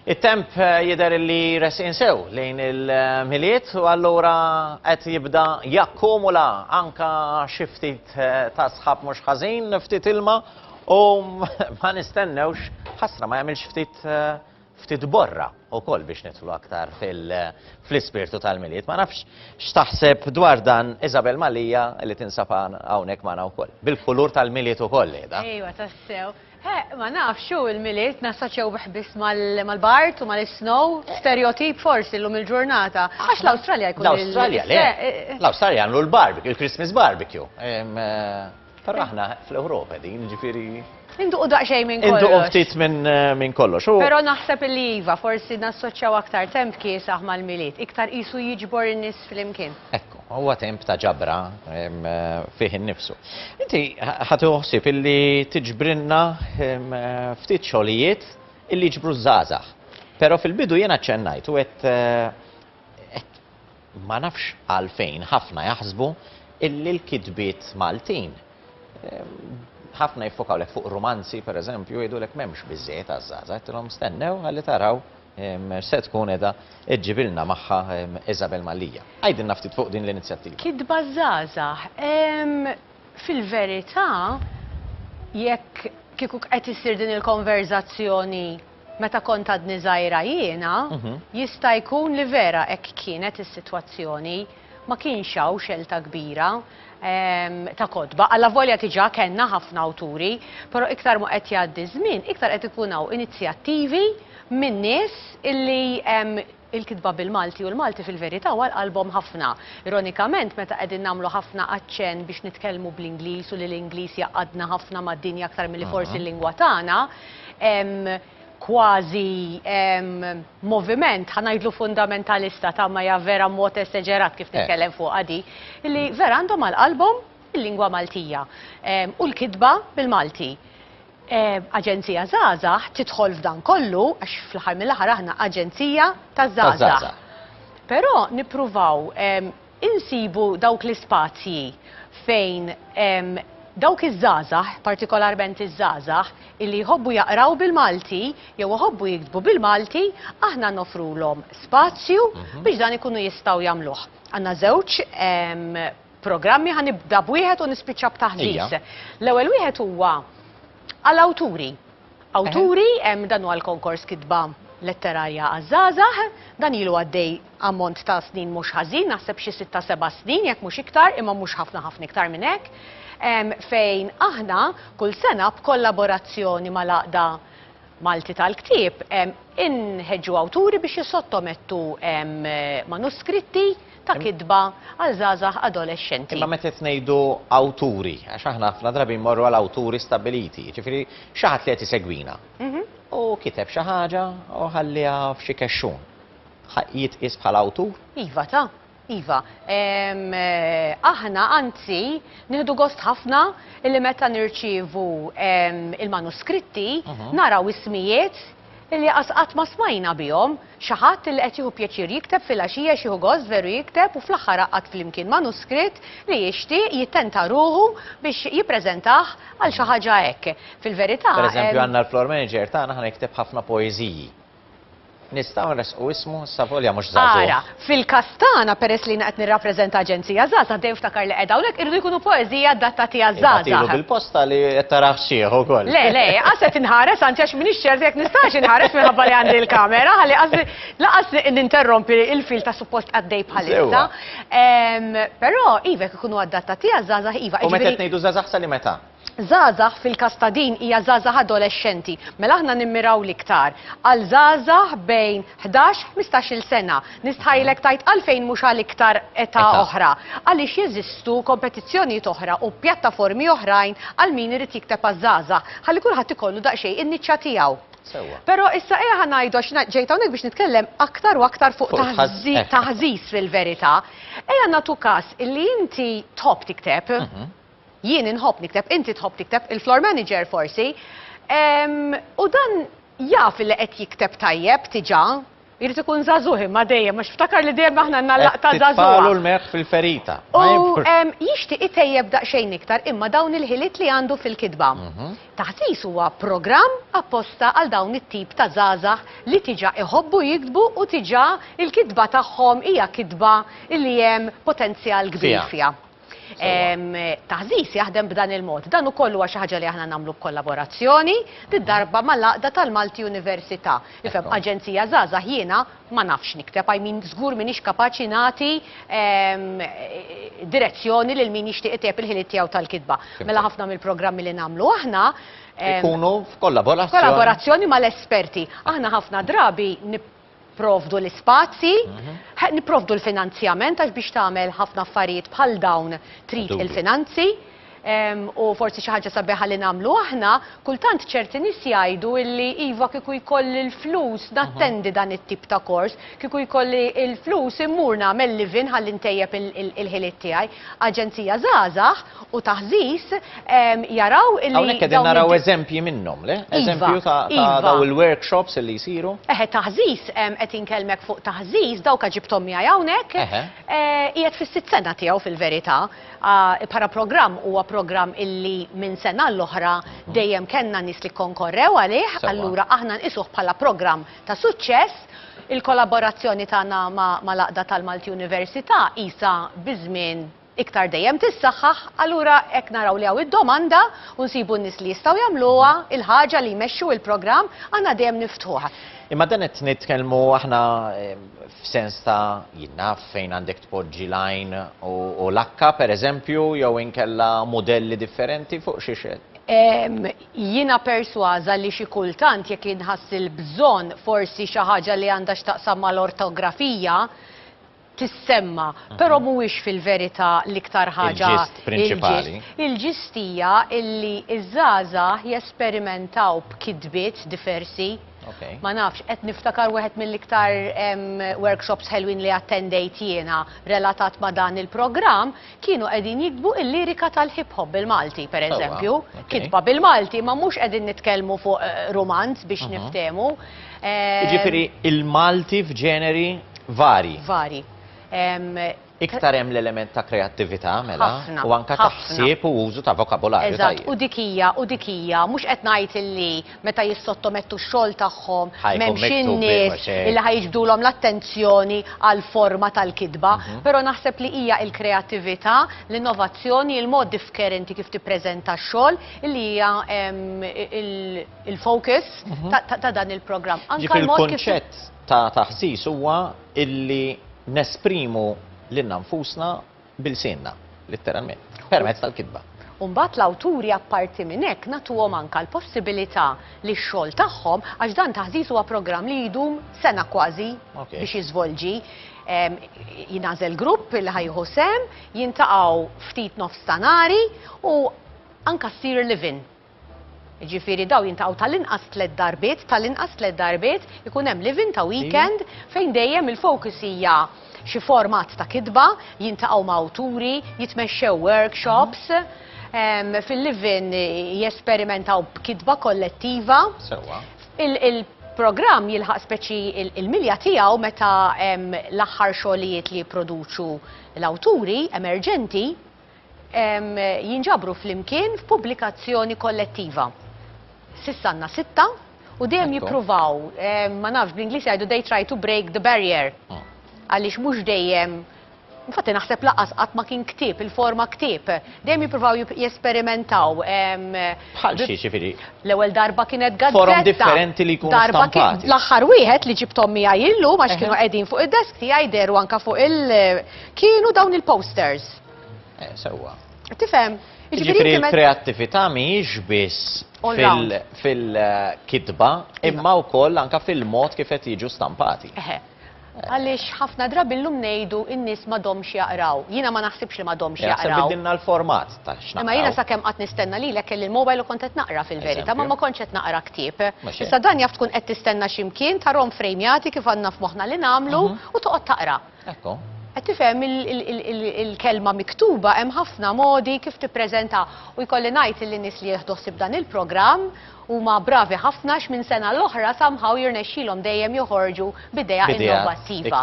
It-temp jidher li resqin sew lejn il-Milied u allura qed jibda jakkumula anka xi ftit ta' sħab mhux ħażin, ftit ilma u ma nistennewx, ħasra ma jagħmilx ftit ftit borra wkoll biex nidħlu aktar fl-ispirtu tal-Milied. Ma nafx x'taħseb dwar dan Isabel Malija li tinsab hawnhekk magħna wkoll. Bil-kulur tal-Milied ukoll qiegħda. Ejwa tassew. Eh, ma nafx hu l-Milied nassoċjawh biss mal-bart u mal-snow, stereotip forsi llum il-ġurnata. Għax l-Awstralja jkun L-Awstralja, le. Eh, eh. L-Awstralja jagħmlu l-barbecue, il-Christmas barbecue. Però aħna fl-Ewropa din, ġifieri. Induqu daqsxejn minn kollox. Induqu ftit minn kollox. Però naħseb li iva, forsi nassoċjaw aktar temp kiesaħ mal-Milied, iktar qisu jiġbor in-nies flimkien. Huwa temp ta' ġabra fih innifsu. Inti ħadd ħsieb illi tiġbrilna ftit xogħlijiet illi jiġbru ż-żgħażagħ. Però fil-bidu jiena aċċennajt u għedt ma nafx għalfejn ħafna jaħsbu illi l-kitbiet Maltin ħafna jiffokaw lek fuq rumanzi pereżempju jgħidulek m'hemmx biżżejjed għaż-żgħażagħ. Għedtilhom stennew ħalli taraw. se tkun qiegħda ġġibilna magħha Isabel Mallia. Għidilna ftit fuq din l-inizjattiva. Kitba żgħażagħ. Fil-verità jekk kieku qed issir din il-konverżazzjoni meta kont għadni żgħira jiena, jista' jkun li vera hekk kienet is-sitwazzjoni. ma kienx hawn xelta kbira ta' kotba, allavolja diġà kellna ħafna awturi, però iktar ma qed jgħaddi ż-żmien, iktar qed ikun hawn inizjattivi minn nies illi il-kitba bil-Malti u l-Malti fil-verità huwa għal qalbhom ħafna. Ironikament, meta qegħdin nagħmlu ħafna aċċenn biex nitkellmu bl-Ingliż u li l-Ingliż jgħaqqadna ħafna mad-dinja aktar milli forsi l-lingwa tagħna, kważi moviment, ħa ngħidlu fundamentalista, tgħid ma hija vera mod eseġerat kif titkellem fuqha di, li vera għandhom għal qalbhom il-lingwa Maltija u l-kitba bil-Malti. Aġenzija Żgħażagħ tidħol f'dan kollu għax fl-aħħar mill-aħħar aħna aġenzija taż-żgħażagħ. Però nippruvaw insibu dawk l-ispazji fejn dawk iż-żgħażagħ, partikolarment iż-żgħażagħ, illi jħobbu jaqraw bil-Malti jew iħobbu jiktbu bil-Malti, aħna noffrulhom spazju biex dan ikunu jistgħu jagħmluh. Għandna żewġ programmi, ħa nibda b'wieħed u nispiċċa b'taħdit. L-ewwel wieħed huwa għall-awturi. Awturi, dan huwa l-konkors Kitba Letterarja għaż-Żgħażagħ. Dan ilu għaddej ammont ta' snin mhux ħażin, naħseb xi sitta seba' snin jekk mhux iktar, imma mhux ħafna ħafna iktar minn hekk, fejn aħna kull sena b'kollaborazzjoni mal-Għaqda Malti tal-Ktieb inħeġġu awturi biex jissottomettu manuskritti, ta' kitba għal żgħażagħ adolexxenti. Imma meta qed ngħidu awturi, għax aħna ħafna drabi mmorru għal awturi stabbiliti, jiġifieri xi ħadd li qed isegwina. U kiteb xi ħaġa u ħalliha f'xi kexxun. Jitqies bħala awtur? Iva ta'. Iva, aħna anzi nieħdu gost ħafna li meta nirċievu il-manuskritti mhm. naraw ismijiet Illi aqas qatt ma smajna bihom. Xi ħadd li qed jieħu pjaċir jikteb filgħaxija xieħu gost veru jikteb u fl-aħħar għaqqad flimkien manuskritt li jixtieq jittenta ruħu biex jippreżentah għal xi ħaġa hekk. Fil-verità. Pereżempju għandna l-floor manager tagħna ħana jikteb ħafna poeżiji. Nistgħu nressqu ismu issa volja mhux żagħżugħ. Ara. Fil-każ tagħna, peress li jiena qed nirrappreżenta aġenzija żgħażagħ, dejjem ftakar li qiegħda hawnhekk, iridu jkunu poeżiji adattati għaż-żgħażagħ. Ibagħtilu bil-posta li qed tarah sħiħ ukoll. Le, le, qas qed inħares, anzi għax m'iniex ċerta jekk nistax inħares minħabba li għandi l-kamera, ħalli qasdi lanqas ninterrompi l-fil ta' suppost għaddej bħalissa. Però, iva, jekk ikunu adattati għaż-żgħażagħ, iva. U meta qed ngħidu żgħażagħ sa liema età? Żgħażagħ fil-każ ta' din hija żgħażagħ adolexxenti, mela aħna nimmiraw l-iktar għal żgħażagħ bejn ħdax, ħmistax-il sena. Nistħajlek tgħid għalfejn mhux għal iktar età oħra. Għaliex jeżistu kompetizzjonijiet oħra u pjattaformi oħrajn għal min irid jikteb għaż-żgħażagħ, ħalli kulħadd ikollu daqsxejn in-niċċa tiegħu. Però issa ejja ħa ngħidu għax jiena ġejt hawnhekk biex nitkellem aktar u aktar fuq taħżiż fil-verità. Ejja nagħtu każ li inti tħobb tikteb. Jien inħobb nikteb, inti tħobb tikteb, il-floor manager forsi, u dan jaf li qed jikteb tajjeb diġà. Irid ikun żagħżugħ imma dejjem għax ftakar li dejjem aħna għandna l-laqta żagħżugħa. Qed titfagħlu l-melħ fil-ferita. U jixtieq itejjeb daqsxejn iktar imma dawn il-ħiliet li għandu fil-kitba. Taħsis huwa programm apposta għal dawn it-tip ta' żgħażagħ li diġà iħobbu jiktbu u diġà il-kitba tagħhom hija kitba li hemm potenzjal kbir fiha. Taħżiż jaħdem b'dan il-mod. Dan ukoll huwa xi ħaġa li aħna nagħmlu b'kollaborazzjoni darba mal-għaqda tal-Malti Università. Ifhem, aġenzija żgħażagħ jiena ma nafx nikteb, I mean żgur m'iniex kapaċi nagħti direzzjoni lil min jixtieq itejjeb il-ħiliet tiegħu tal-kitba. Mela ħafna mill-programmi li nagħmlu aħna ikunu f'kollaborazzjoni mal-esperti. Aħna ħafna drabi Nipprovdu l-ispazji, nipprovdu l-finanzjament għax biex tagħmel ħafna affarijiet bħal dawn trid il-finanzi. U forsi xi ħaġa sabiħa li nagħmlu aħna, kultant ċerti nies jgħidu illi iva kieku jkolli l-flus nattendi dan it-tip ta' kors, kieku jkolli l-flus immur nagħmel live-in ħalli ntejjeb il-ħiliet tiegħi. Aġenzija Żgħażagħ u taħżiż, jaraw li. Hawnhekk qegħdin naraw eżempji minnhom, le? Iva, eżempju ta' iva. daw il-workshops li jsiru. Eħe, taħżiż, qed inkellmek fuq taħżiż, dawk ġibthom miegħi hawnhekk. Eh, qiegħed fis-sitt sena tiegħu fil-verità. Ah, para programm huwa programm illi minn sena l-oħra hmm. dejjem kellna nies li konkorrew għalih, allura aħna nqisuh bħala programm ta' suċċess il-kollaborazzjoni tagħna ma' laqda tal-Malti Università isa biżmien iktar dejjem tissaħħaħ, allura hekk naraw li hawn id-domanda u nsibu n-nies li jistgħu jagħmluha, il-ħaġa li jmexxu il-programm, aħna dejjem niftuh. Imma dan qed nitkellmu aħna f'sens ta' jien naf fejn għandek tpoġġi l-għajn u l-akka pereżempju jew inkella mudelli differenti fuq xiex qed Jiena persważa li xi kultant jekk inħass il-bżonn forsi xi ħaġa li għandha x'taqsam mal-ortografija tissemma, però mhuwiex fil-verità l-iktar ħaġa Il-ġist prinċipali. Il-ġist hija illi ż-żgħażagħ jesperimentaw b'kitbiet diversi. Ok. Ma nafx, qed niftakar wieħed mill-iktar workshops ħelwin li attendejt jiena relatat ma' dan il-programm, kienu qegħdin jiktbu l-lirika tal-hip hop bil-Malti, pereżempju, kitba bil-Malti, imma mhux qegħdin nitkellmu fuq rumanz biex niftehmu. Jiġifieri l-Malti f'ġeneri varji. Varji. Iktar hemm l-element ta' kreattività mela u anke ta' ħsieb u użu ta' vokabolarju. Eżatt, u dik hija, u dik hija, mhux qed ngħid illi meta jissottomettu x-xogħol tagħhom Ħa jkun m'hemmx miktub ieħor, in-nies se. illi ħa jiġbdulhom l-attenzjoni għall-forma tal-kitba, però naħseb li hija l-kreattività, l-innovazzjoni, il-mod diffkerenti kif tippreżenta x-xogħol illi hija il-focus ta' dan il-programm. Anke l-mod kif. Jiġifieri l-kunċett ta' taħsis huwa illi nesprimu lilna nfusna b'ilsienna, litteralment, permezz tal-kitba. U mbagħad l-awturi apparti minn hekk nagħtuhom anke l-possibilità li x-xogħol tagħhom, għax dan ta' ħżiż huwa programm li jdum sena kważi biex jiżvolġi, jingħażel grupp li ħa jieħu sehem, jintaqgħu ftit nofstanari u anke ssir live-in. Jiġifieri dawn jiltaqgħu tal-inqas tliet darbiet, tal-inqas tliet darbiet, ikun hemm live-in ta' weekend fejn dejjem il-focus hija xi format ta' kitba, jiltaqgħu ma' awturi, jitmexxew workshops, fil-live-in jesperimentaw b'kitba kollettiva. Sewwa. Il-programm jilħaq speċi l-milja tiegħu meta hemm l-aħħar xogħlijiet li jipproduċu l-awturi emerġenti. jinġabru flimkien f'pubblikazzjoni kollettiva. S'issa għandna sitta u dejjem jippruvaw, ma nafx bl-Ingliż jgħidu they try to break the barrier. Ah. Għaliex mhux dejjem Infatti naħseb laqas qatt ma kien ktib, il-forma ktib. Dejjem jippruvaw jesperimentaw. Bħal xi ġifieri. L-ewwel darba kienet gazzetta. Forom differenti li jkunu stampati. L-aħħar wieħed li ġibtom miegħi illum għax kienu qegħdin fuq id-desk tiegħi deru anka fuq il kienu dawn il-posters. Eh, sewwa. Tifhem? Jiġifieri l-kreattività mhijiex biss fil-kitba iva. imma wkoll anka fil-mod kif qed jiġu stampati. Għaliex ħafna drabi llum ngħidu n-nies ma domx jaqraw. Jiena ma naħsibx li ma domx jaqraw. Bidilna l-format ta' xna. Imma jiena sakemm qatt nistenna li lek il-mobile u kont qed naqra fil-verità, ma ma kontx qed naqra ktieb. Issa dan jaf tkun qed tistenna x'imkien tarom frejmjati kif għandna f'moħħna li nagħmlu mhm. u toqgħod taqra. Hekk hu. Qed tifhem il-kelma miktuba hemm ħafna modi kif tippreżentha u jkolli ngħid illi nies li jieħdu ħsieb dan il-programm huma bravi ħafna x'minn sena l-oħra somehow jirnexxilhom dejjem joħorġu b'idea innovattiva.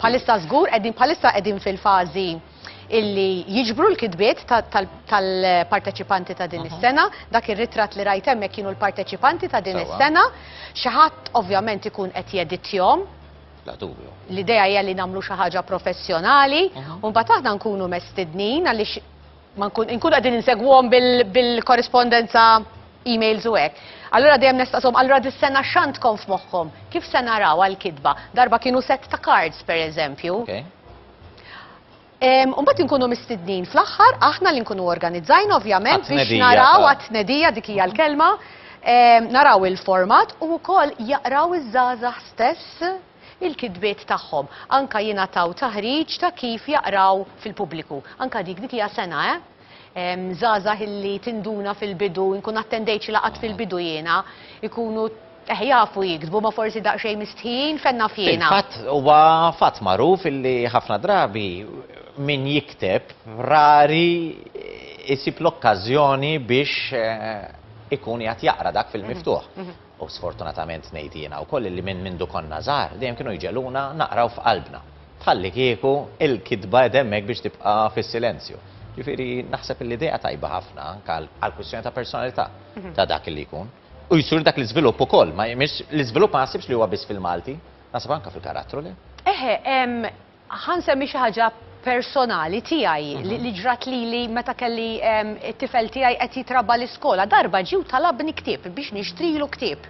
Bħalissa żgur qegħdin bħalissa qegħdin fil-fażi illi jiġbru l-kitbiet tal-parteċipanti ta' din is-sena, dak ir-ritratt li rajt hemmhekk kienu l-parteċipanti ta' din is-sena, xi ħadd ovvjament ikun qed jeditjhom, Bla dubju. L-idea hija li nagħmlu xi ħaġa professjonali u mbagħad aħna nkunu mestidnin għaliex ma nkun inkun qegħdin insegwhom bil-korrispondenza emails u hekk. Allura dejjem nistaqshom allura dis-sena x'għandkom f'moħħkom? Kif se naraw għall-kitba? Darba kienu set ta' cards pereżempju. Okay. Umbat inkunu mistednin fl-aħħar, aħna li nkunu organizzajna ovvjament biex naraw għat-tnedija dik hija l-kelma, naraw il-format u wkoll jaqraw iż-żgħażagħ stess il-kitbiet tagħhom. Anka jingħataw taħriġ ta' kif jaqraw fil-pubbliku. Anka dik dik hija sena, eh? Żgħażagħ illi tinduna fil-bidu, inkun attendejt xi laqgħat fil-bidu jiena, ikunu eħ jafu jiktbu ma forsi daqsxejn mistħijin, fejn naf jiena. Fil-fatt huwa fatt magħruf illi ħafna drabi min jikteb rari jsib l-okkażjoni biex ikun qiegħed jaqra dak fil-miftuħ. U sfortunatament ngħid jiena wkoll illi minn mindu konna żgħar dejjem kienu jġegħluna naqraw f'qalbna. Bħallikieku l-kitba qed hemmhekk biex tibqa' fis-silenzju. Ġifieri naħseb illi idea tajba ħafna anke għall-kwistjoni ta' personalità ta' dak illi jkun. U jsir dak l-iżvilupp ukoll, ma mhix l-iżvilupp ma naħsibx li huwa biss fil-Malti, naħseb anke fil-karattru le? Eħe, hemm Ħa nsemmi xi ħaġa personali tiegħi li ġrat lili meta kelli t-tifel tiegħi qed jitrabba' l-iskola. Darba ġie u talabni ktieb biex nixtrilu ktieb.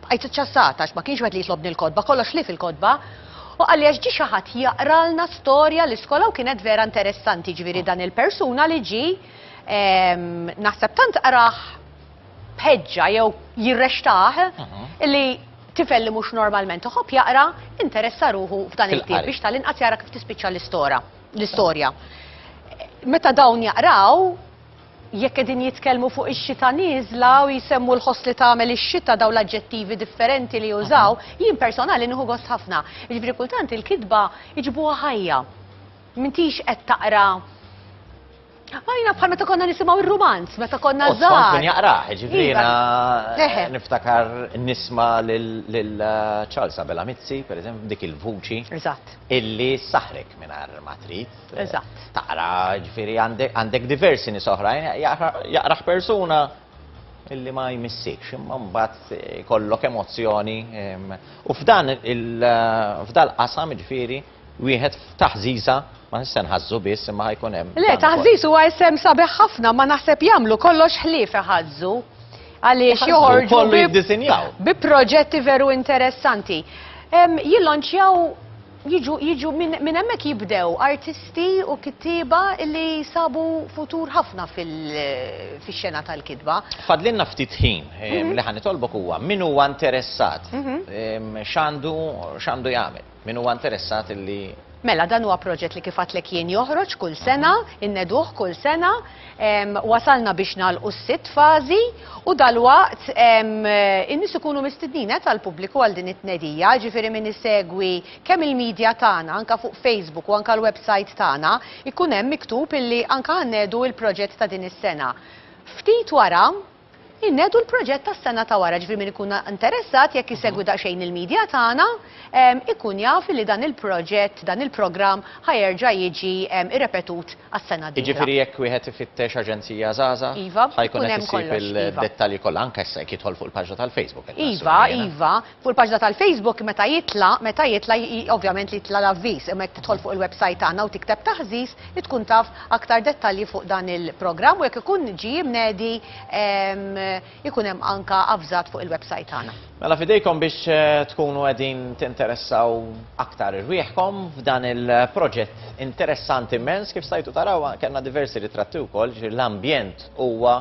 Bqajt iċċassata għax ma kienx wieħed li jitlobni l-kotba, kollox ħlief il-kotba. Hu qalli għax ġie xi ħadd jaqralna storja l-iskola u kienet vera interessanti, jiġifieri dan il-persuna li ġie naħseb tant qrah b'ħeġġa jew jirrextah li tifel li mhux normalment iħobb jaqra interessa ruħu f'dan il-ktieb biex tal-inqas jara kif tispiċċa l-istora l-istorja. Meta dawn jaqraw, jekk qegħdin jitkellmu fuq ix-xita nieżla u jsemmu l-ħoss li tagħmel ix-xita dawn l-aġġettivi differenti li jużaw, jien personali nieħu gost ħafna. Jiġifieri kultant il-kitba jġibuha ħajja. M'intix qed taqra Għajna bħal meta konna nisimaw il-romanz, meta konna zaħar. Kien jaqraħ, ġifrina, iva. niftakar nisma l-Charles eh, Abela Mizzi, per eżempju, dik il-vuċi. Eżatt. Illi saħrek minar matrit. Eh, Eżatt. Taqra, ġifiri, għandek diversi nisoħrajn, jaqraħ persuna illi ma jmissiex, imma mbagħad eh, kollok emozzjoni. U f'dan il-qasam ġifiri, wieħed f'taħżiża ma se nħażżu biss imma ħajkun hemm. Le, taħżiż huwa isem sabiħ ħafna ma naħseb jagħmlu kollox ħlief iħażżu. Għaliex joħorġu bi proġetti veru interessanti. Jillonċjaw jiġu minn hemmhekk jibdew artisti u kittieba li sabu futur ħafna fil-xena tal-kitba. Fadlinna ftit ħin mhm. li ħanitolbok huwa min huwa interessat mhm. x'għandu x'għandu jagħmel. Min huwa interessat li. Mela dan huwa proġett li kif għadtlek jien joħroġ kull sena, inneduh kull sena, wasalna biex nagħlqu s-sitt fażi u dalwaqt in-nies ikunu mistednin għedt għall-pubbliku għal din it-tnedija, jiġifieri min isegwi kemm il-media tagħna anke fuq Facebook u anke l-website tagħna jkun hemm miktub illi anke ħa nnedu l-proġett ta' din is-sena. Ftit wara, Innedu l-proġett tas-sena ta' wara, ġifieri min ikun interessat jekk isegwi daqsxejn il-media tagħna ikun jaf illi dan il-proġett, dan il-programm ħa jerġa' jiġi rrepetut għas-sena d-dieħla. Jiġifieri jekk wieħed ifittex Aġenzija Żgħażagħ Iva, ħa jkun hemm kollox, iva. ħa jkun qed isib id-dettalji kollha, anke issa jekk jidħol fuq il-paġna tal-Facebook qed naħseb jiena. Iva, iva. Fuq il-paġna tal-Facebook meta jitla', meta jitla' ovvjament li jitla' l-avviż, imma jekk tidħol fuq il-website tagħna u tikteb taħżiż li tkun taf aktar dettalji fuq dan il-programm u jekk ikun ġie mnedi ikun hemm anka avżat fuq il-website tagħna. Mela f'idejkom biex tkunu qegħdin tinteressaw aktar irwieħkom f'dan il-proġett interessant immens kif stajtu taraw kellna diversi ritratti wkoll, ġifieri l-ambjent huwa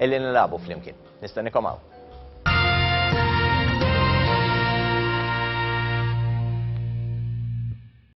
Illi nilagħbu flimkien. Nistennikom hawn.